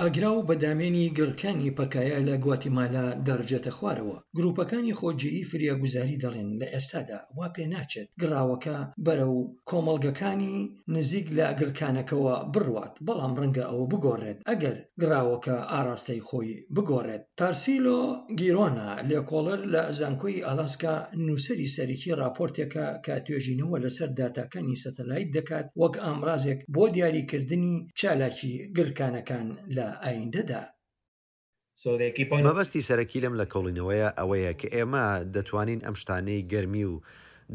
ئاگراو بە دامێنی گڕکانی پەکایە لە گواتیمالا دەڕژێتە خوارەوە. گرووپەکانی خۆجێیی فریاگوزاری دەڵێن لە ئێستادا وا پێناچێت گڕاوەکە بەرەو کۆمەڵگەکانی نزیک لە گڕکانەکەوە بڕوات، بەڵام ڕەنگە ئەوە بگۆڕێت ئەگەر گڕاوەکە ئاڕاستەی خۆی بگۆڕێت. تارسیلۆ گیرۆنا، لێکۆڵەر لە زانکۆی ئالاسکا، نووسەری سەرەکی ڕاپۆرتێکە کە توێژینەوە لەسەر داتاکانی سەتەلایت دەکات وەک ئامرازێک بۆ دیاریکردنی چالاکی گلکانەکان لە ئایندەدا. مەبەستی سەرەکی لەم لەکۆڵینەوەیە ئەوەیە کە ئێمە دەتوانین ئەم شتانەی گەرمی و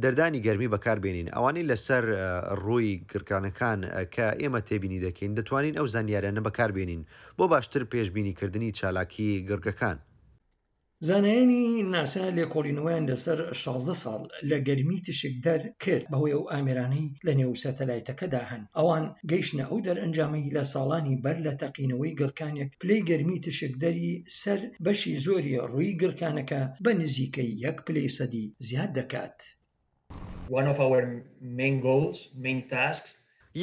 دەردانی گەرمی بەکاربێنین، ئەوانەی لەسەر ڕووی گڕکانەکان کە ئێمە تێبینی دەکەین، دەتوانین ئەو زانیاریانە بەکاربێنین بۆ باشتر پێشبینیکردنی چالاکی گڕگەکان. زانایانی ناسا لێکۆڵینەوەیان لەسەر شازدە ساڵ لە گەرمی تشکدەر کرد بەهۆی ئەو ئامێرانەی لەنێو سەتەلایتەکەدا هەن، ئەوان گەیشتنە ئەو دەرئەنجامەی لە ساڵانی بەر لە تەقینەوەی گڕکانێک پلەی گەرمی تشکدەری سەر بەشی زۆری ڕووی گڕکانەکە بە نزیکەی یەک پلەی سەدی زیاد دەکات. One of our main goals, main tasks.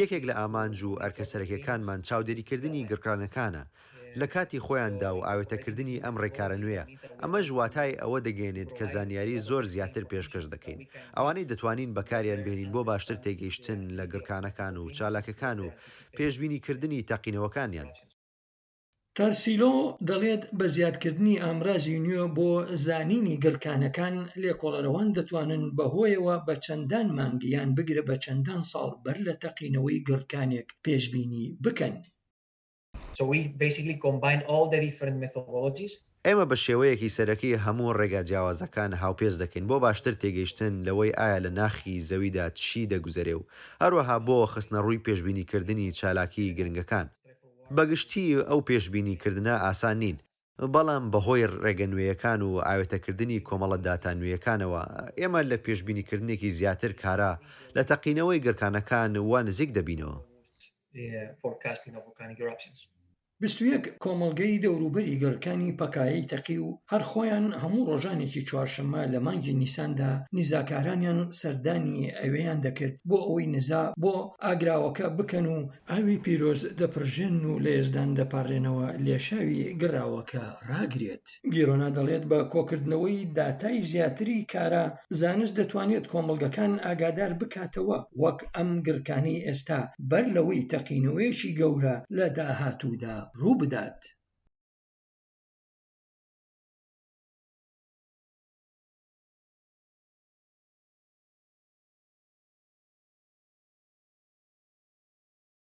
یەکێک لە ئامانج و ئەرکە سەرەکیەکانمان چاودێریکردنی گڕکانەکانە لە کاتی خۆیاندا و ئاوێتەکردنی ئەم ڕێکارە نوێیە، ئەمەش واتای ئەوە دەگەیەنێت کە زانیاری زۆر زیاتر پێشکەش دەکەین، ئەوانەی دەتوانین بەکاریان بهێنین بۆ باشتر تێگەیشتن لە گڕکانەکان و چالاکەکان و پێشبینیکردنی تەقینەوەکانیان. تارسیلۆ دەڵێت، بە زیادکردنی ئامرازی نوێ بۆ زانینی گڕکانەکان، لێکۆڵەرەوان دەتوانن بەهۆیەوە بە چەندان مانگ یان بگرە بە چەندان ساڵ بەر لە تەقینەوەی گڕکانێک پێشبینی بکەن. So we basically combine all the different methodologies. ئێمە بە شێوەیەکی سەرەکی هەموو ڕێگا جیاوازەکان هاوپێچ دەکەین بۆ باشتر تێگەیشتن لەوەی ئایا لە ناخی زەویدا چی دەگوزەرێ و هەروەها بۆ خستنەڕووی پێشبینیکردنی چالاکیی گرنگەکان. بە گشتی ئەو پێشبینیکردنە ئاسان نین، بەڵام بەهۆی ڕێگە نوێیەکان و ئاوێتەکردنی کۆمەڵە داتا نوێیەکانەوە، ئێمە لە پێشبینیکردنێکی زیاتر کارا لە تەقینەوەی گڕکانەکان وا نزیک دەبینەوە. forecasting of volcanic eruptions. بیست و یەک کۆمەڵگەی دەوروبەری گەڕکانی پەکایەی تەقی و هەر خۆیان هەموو ڕۆژانێکی چوارشەممە لە مانگی نیساندا نیزاکارانیان سەردانی ئەوێیان دەکرد بۆ ئەوەی نزا بۆ ئاگراوەکە بکەن و ئاوی پیرۆز دەپرژێنن و لە یەزدان دەپاڕێنەوە لێشاوی گڕاوەکە ڕاگرێت. گیرۆنا دەڵێت بە کۆکردنەوەی داتای زیاتری کارا زانست دەتوانێت کۆمەڵگەکان ئاگادار بکاتەوە وەک ئەم گڕکانەی ئێستا بەر لەوەی تەقینەوەیەکی گەورە لە داهاتوودا ڕووبدات.